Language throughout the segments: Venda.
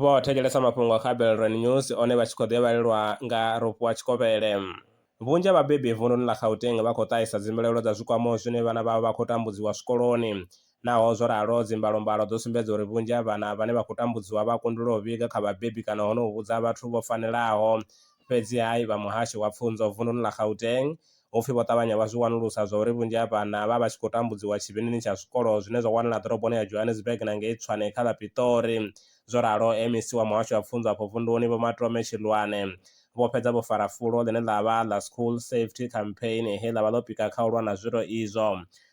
vho thetshelesa mafhungo a kha belran news one vha tshi khou ḓevhalelwa nga rofhiwa tshikovhele vhunzhi ha vhabebi vununi ḽa gauteng vha khou ṱahisa dzimbilaelo dza zwikwamo zwine vhana vhavho vha khou tambudziwa zwikoloni naho zwo ralo dzimbalombalo dzo sumbedza uri vhunzhi ha vhana vhane vha khou tambudziwa vha kundelwa u vhiga kha vhabebi kana hono vhudza vhathu vho fanelaho fhedzi hai vha muhasho wa pfunzo vununi ḽa gauteng Ho pfi vho ṱavhanya vha zwi wanulusa zwa uri vhunzhi ha vhana vha vha tshi khou tambudziwa tshivhindini tsha zwikolo zwine zwa wanala ḓoroboni ya Johannesburg na ngei Tshwane kha ḽa Pitori. Zwo ralo, MEC wa Muhasho wa Pfunzo afho vunduni Vho Matome Chilwane, vho fhedza vho fara fulo ḽine ḽa vha ḽa School Safety Campaign he ḽa vha ḽo pika kha u lwa na zwiro izwo.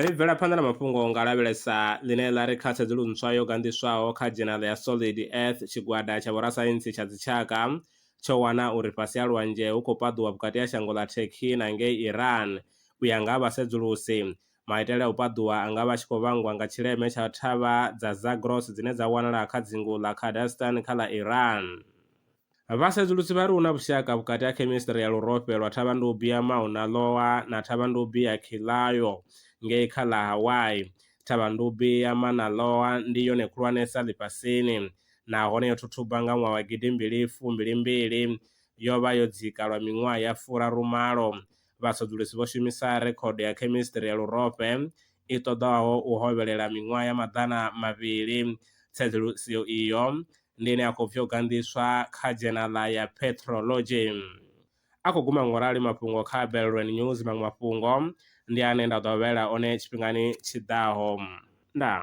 Ri bvela phanḓa na mafhungo nga lavhelesa ḽine ḽa ri kha tsedzulu ntswa yo ganḓiswaho kha dzhenali ya Solid Earth, tshigwada tsha vhorasaintsi tsha dzitshaka tsho wana uri fhasi ha lwanzhe hu khou paḓuwa vhukati ha shango ḽa Turkey na ngei Iran. U ya nga ha vhasedzulusi, maitele a u paḓuwa a nga vha a tshi khou vhangwa nga tshileme tsha thavha dza Zagros dzine dza wanala kha dzingu ḽa Kurdistan kha ḽa Iran. Vhasedzulusi vha ri hu na vhushaka vhukati ha khemistri ya lurofhe lwa thavhandubi ya Mauna Loa na thavhandubi ya Kilauea ngei kha ḽa Hawaii. Thavhandubi ya Mauna Loa ndi yone khulwanesa ḽifhasini nahone yo thuthuba nga ṅwaha wa gidi mbili fumbili mbili. Yo vha yo dzika lwa miṅwaha ya furaru malo. Vhasedzulusi vho shumisa rekhodo ya khemistri ya lurofhe i ṱoḓaho u hovhelela miṅwaha ya maḓana mavhili. Tsedzuluso iyo ndi ine a khou bvyo ganḓiswa kha dzhenala ya Petrology. A khou guma ngorali mafhungo kha Belrwen News maṅwe mafhungo ndi ane nda ḓo vhaela one tshifhingani tshi ḓaho. Ndaa.